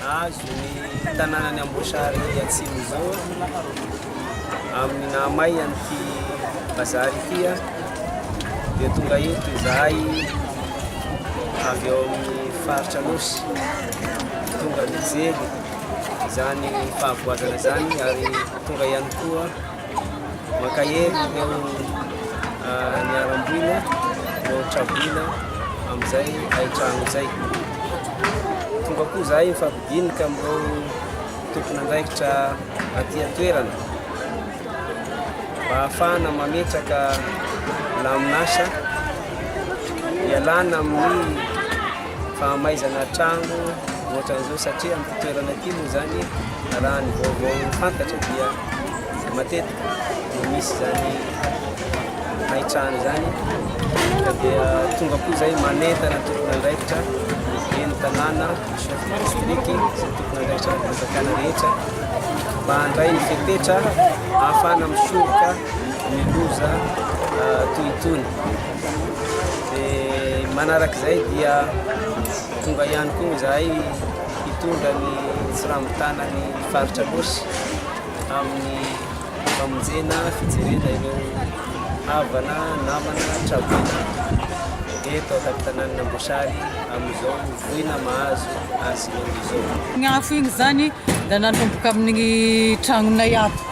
Nahazo ny tanànan'i Amboasary Atsimo izao amin'ny naha may an'ity bazary ity dia tonga eto izahay avy ao amin'ny faritra Anosy tonga nijery izany fahavoazana izany ary tonga ihany koa Mankahery ireo niharam-boina no traboina amin'izay hain-trano izay. Tonga koa izahay mifampidinika amin'ireo tompon'andraikitra aty an-toerana mba hahafahana mametraka lamin'asa ialana amin'ny fahamaizana trano ohatran'izao satria amin'ity toerana ity moa izany raha ny vaovao fantatra dia dia matetika dia misy izany hahitrany izany ka dia tonga koa izay manentana ny tompon'andraikitra ny ben'ny tanàna, ny chef de district sy ny tompon'andraikitra ara-panjakana rehetra mba handray ny fepetra ahafahana misoroka ny loza ah, toy itony. Dia manaraka izay dia tonga ihany koa izahay hitondra ny tsirambin-tanan'ny Faritra Nosy amin'ny famonjena fijerena ireo havana, namana, traboina eto an-tampon-tanàn'Amboasary amin'izao voina mahazo azy ireo izao. Ny afo iny izany dia nanomboka amin'ny tranonay ato,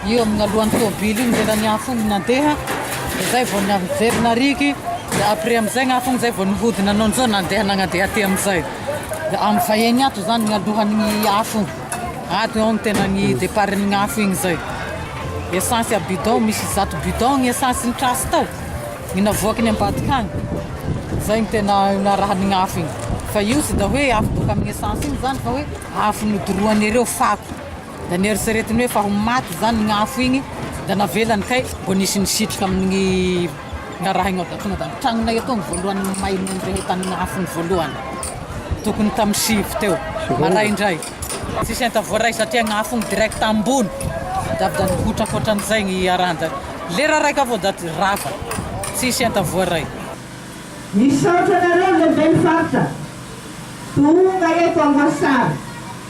io amin'ny alohan'ny tôbily io ny lelan'ny afo iny nandeha, dia izay vao nijery nariky, dia après amin'izay ny afo iny izay vao nihodina nanao an'izao nandeha nagnandeha aty amin'izay. Amin'ny vahiny ato izany ny alohan'ny afo. Ato eo ny tena ny deparin'ny afo igny zay. Esansy a bidon, misy zato bidon ny esansy ny trasy tao. Ny navoaky ny ambadika agny. Zay ny tena narahan'ny afo igny. Fa io tsy da hoe afo boka amin'ny esansy igny zany fa hoe afo nodoroan'ireo fako. Da neritreretiny hoe fa ho maty zany gny afo igny da navelany kay mbo nisy nisitrika aminy ngaraha igny ao da tonga da ny tragnonay atoa ny voalohany may nandre taminy afo ny voalohany tokony tamy sivy teo maraindray tsisy enta voaray satria ny afo igny direct ambony da avy da nihotraka otran'izay ny haranja lera raiky avao da rava tsisy enta voaray. Misaotra anareo lehiben'ny faritra tonga eto Angoasary.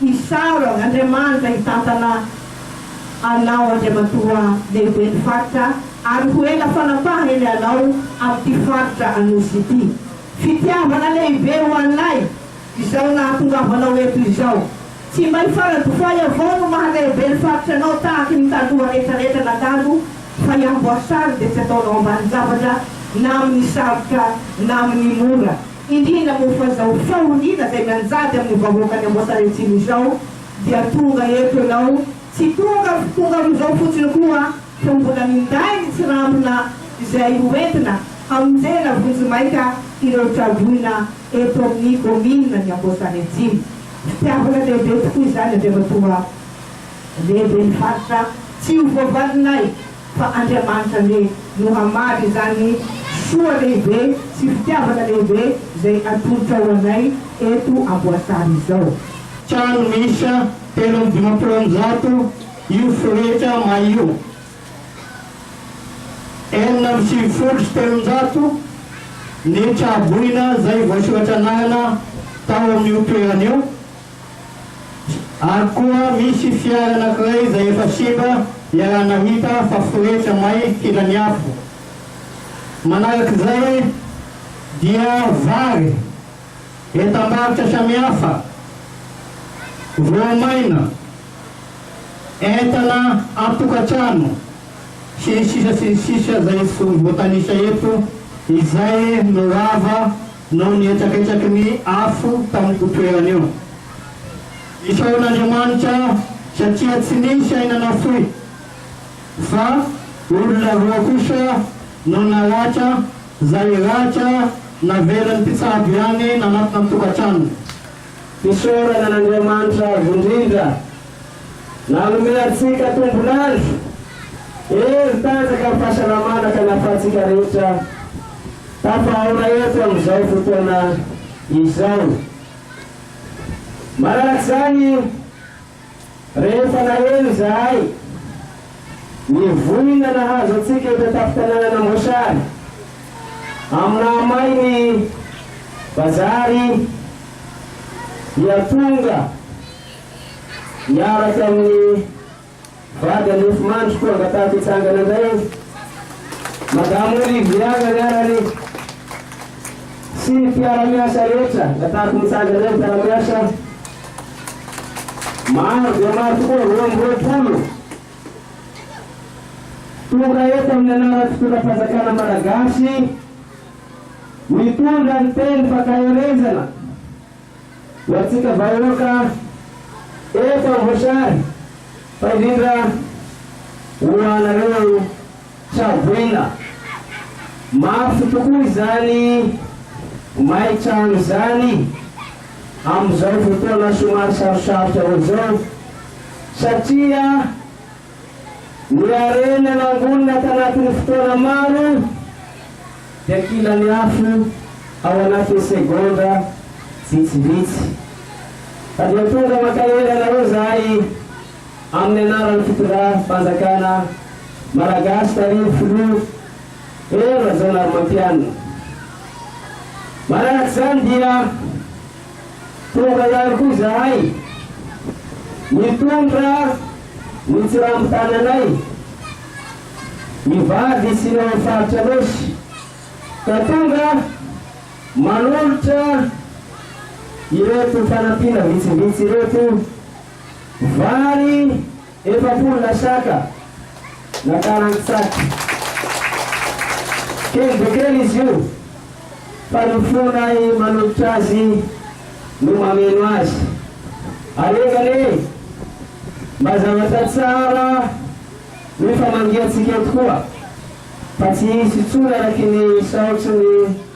Hisaro an Andriamanitra hitantana anao Andriamatoa Lehiben'ny Faritra ary ho ela fanapahany anao amin'ity Faritra Anosy ity. Fitiavana lehibe ho anay izao nahatongavanao eto izao. Tsy mba i Faradofay avao no maha Lehibe ny Faritra anao tahaky ny Taloha rehetra rehetra nandalo fa i Amboasary dia tsy ataonao ambanin-javatra na amin'ny sarotra na amin'ny mora. Indrindra moa fa izao fahoriana izay mianjady amin'ny vahoakan'i Amboasariatsimo izao dia tonga eto ianao tsy tonga tonga amin'izao fotsiny koa fa mbola minday ny tsirambina izay hoentina hamonjena vonjimaika ireo traboina eto amin'ny kaomininan'i Amboasariatsimo. Fitiavana lehibe tokoa izany avy amin'itoa lehiben'ny faritra tsy ho voavalinay. fa Andriamanitra anie no hamaly izany soa lehibe sy fitiavana lehibe izay atolotra ho anay eto Amboasary izao. Trano miisa telo amby dimampolo amby zato io Forehetra may io. Enina amby sivifolo sy telonjato ny tra-boina izay voasoratran'anana tao amin'io toerana io. Ary koa misy fiara anankiray izay efa simba ialana hita fa foretra may filan'ny afo. Manarak'izay dia vary, entam-barotra samihafa, voamaina, entana an-tokantrano sy ny sisa sy ny sisa izay tsy voatanisa eto izay no rava Noho ny hetsaketsaky ny afo tamin'io toerana io. Isaoran'Andriamanitra aho satria tsy nisy aina nafoy, fa olona roa kosa no naratra izay ratra navelan'ny mpitsabo ihany nanatona ny tokantranony. Fisaorana an'Andriamanitra avo indrindra nanome antsika tombon'andro, hery tanjaka, fahasalamana ka nahafahantsika rehetra. Tafahaonaivo amin'izao fotoana izao. Manaraka izany, rehefa naheno izahay ny voina nahazo antsika eto an-tampon-tanànan'Amboasary, amin'ny nahamay ny bazary, dia tonga niaraka amin'ny Vady any Mofomandry koa angatahaky hitsangana indray eo. Madame Olivia ny anarany sy ny mpiara-miasa rehetra angatahako mitsangana eo ny mpiara-miasa. Maro dia maro tokoa, roa amby roapolo tonga eto amin'ny anaran'ny fitondram-panjakana malagasy mitondra ny teny fankaherezana. Ho antsika vahoaka efa voasary fa indrindra ho anareo Tsaboina, mafy tokoa izany may trano izany amin'izao fotoana somary sarosarotra izao satria. Ny harena nangonina tanatin'ny fotoana maro dia kilany afo ao anatin'ny segondra vitsivitsy. Fa dia tonga mankahery anareo izahay amin'ny anaran'ny fitondram-panjakana Malagasy tarihin'ny Filoha Hery Rajaonarimampianina. Manaraka izany dia. Tonga ihany koa izahay nitondra ny tsirambin tananay hivady sy ny ao amin'ny faritra Anôsy ka tonga manolotra ireto fanampiana vitsivitsy ireto, vary, Efapolo lasaka na karantsaky. Kely dia kely izy io fa ny fonay manototra azy no mameno azy. Alega anie e! Mba zavatra tsara no famangiantsika eto koa fa tsy hisy intsony araky ny isaotry ny.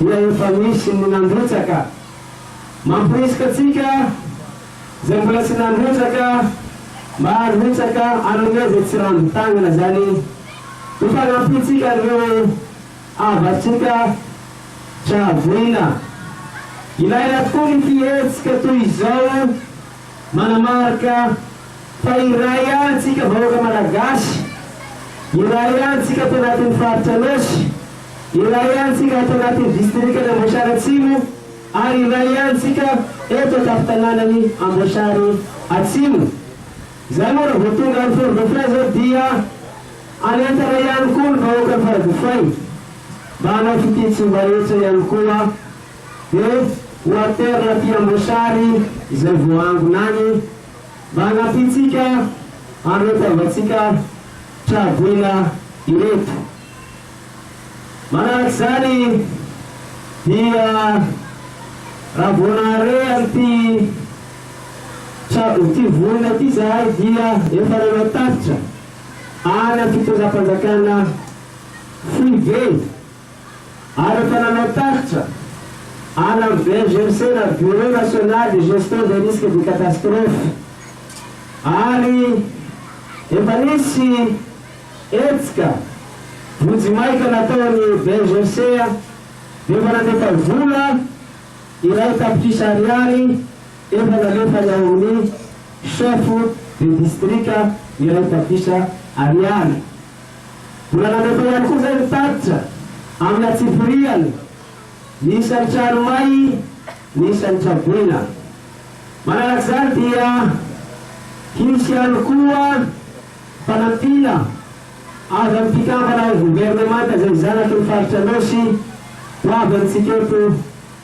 dia efa misy ny nandrotsaka. Mamporisika antsika izay mbola tsy nandrotsaka mba handrotsaka hanome izay tsy rambin-tagnana izany ho fanampiantsika an'ireo havatsika tra voina. Ilaina tokoa ny fihetsika toy izao. Manamarika fa iray ihany isika vahoaka Malagasy, iray ihany isika ato anatin'ny Faritra Anôsy, iray ihany isika ato anatin'ny Distrikan' Amboasary Atsimo ary iray ihany isika eto an-tampon-tanànan'i Amboasary Atsimo. Izay moa raha vao tonga any Fort Dauphin izao dia hanentana ihany koa ny vahoakan'i Faradofay mba hanao fitia tsy mba hetra ihany koa. Eef quarter aty Amboasary izay voahangona any mba hanafihantsika an'reto havantsika traboina ireto. Manarak'izany dia raha vao nahare an'ity trabo ity vorona ity izahay dia efa nanao tatitra any amin'ny fitondram-panjakana foibe. ary efa nanao tatitra any amin'ny BNGRC na Bureau National de Gestion des Risques de Catastrophe ary efa nisy hetsika vonjimaika nataon'ny BNGRC dia efa nandefa vola iray tapitrisa ariary efa nalefany ao amin'ny chef de district iray tapitrisa ariary. Mbola nandratra ihany koa izay ny tatitra amina tsipiriany ny isan'ny trano may, ny isan'ny traboina. Manaraka izany dia hisy ihany koa fanampiana avy amin'ny mpikambana ao governemanta izay zanaky ny faritra Anôsy ho avy amintsika eto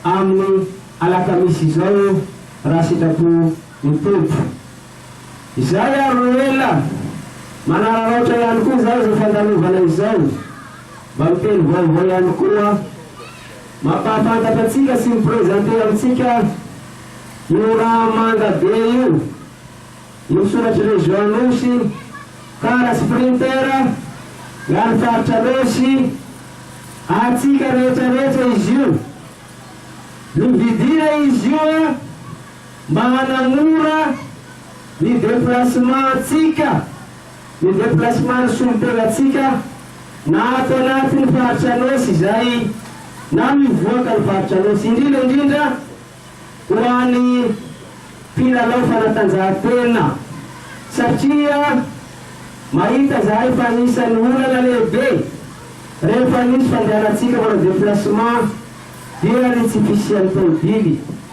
amin'ny alakamisy izao raha sitrapo ny Tompo. Izay ary no ela! Manararaotra ihany koa izao izao fandalovana izao. Mba miteny vaovao ihany koa. Mampahafantatra antsika sy mi-presenter amintsika io rà manga be io, io soratr'i Région Anosy, kara sy printer, ary faritra Anosy, antsika rehetra rehetra izy io. Novidiana izy io a! Mba hanamora ny deplacement-ntsika, ny deplacement-n'ny solontenantsika na ato anatin'ny Faritra Anôsy izay na mivoaka ny Faritra Anôsy, indrindra indrindra ho an'ny mpilalao fanatanjahantena satria mahita izahay fa anisan'ny olana lehibe rehefa misy fandehanantsika manao deplacement dia ny tsy fisian'ny tôbily.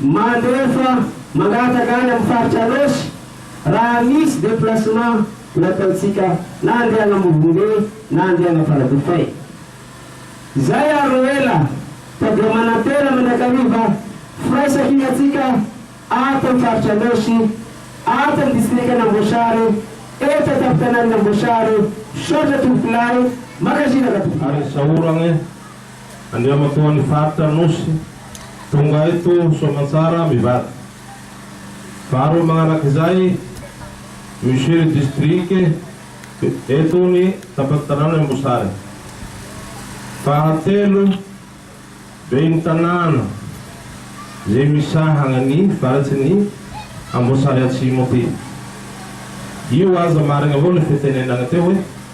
Maro efa mangataka any amin'ny faritra Anôsy raha misy déplacement nataontsika na andeha an'Ambovombe na andeha an'Amparadofay. Zay ary no ela fa dia manantena mandrakariva firaisankinantsika ato amin'ny faritra Anôsy, ato amin'ny distrikan'Amboasary, eto an-tampon-tanàn'Amboasary. Misaotra tompokolahy, mankasitraka tompokolahy. Ary ny sahorana e! Andriamatoan'ny faritra Anosy, tonga eto soamantsara mivady. Faharoa manaraka izay, Monsieur le District, eto ny Tapany Tanàna i Ambosary. Fahatelo, Ben'ny Tanàna izay misahagna ny faritrin'i Amboasary Atsimo ity. Io aza marigny avao le fe tenenagna teo hoe.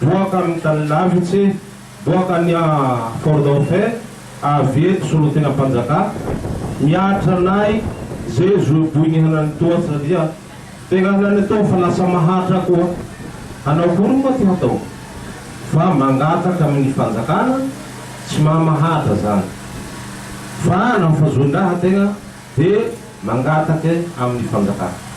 Boaka amin'ny tany lavitse, boaka any Fort Dauphin, avy eto solontenam-panjaka, miaritra anay ze zo boy ny hanany toa satria tegna hanany atao fa lasa mahatra koa. Hanao akory moa ty hatao fa mangataka amin'ny fanjakana tsy maha mahatra zany fa naho fa zoin-draha tegna de mangatake amin'ny fanjakana.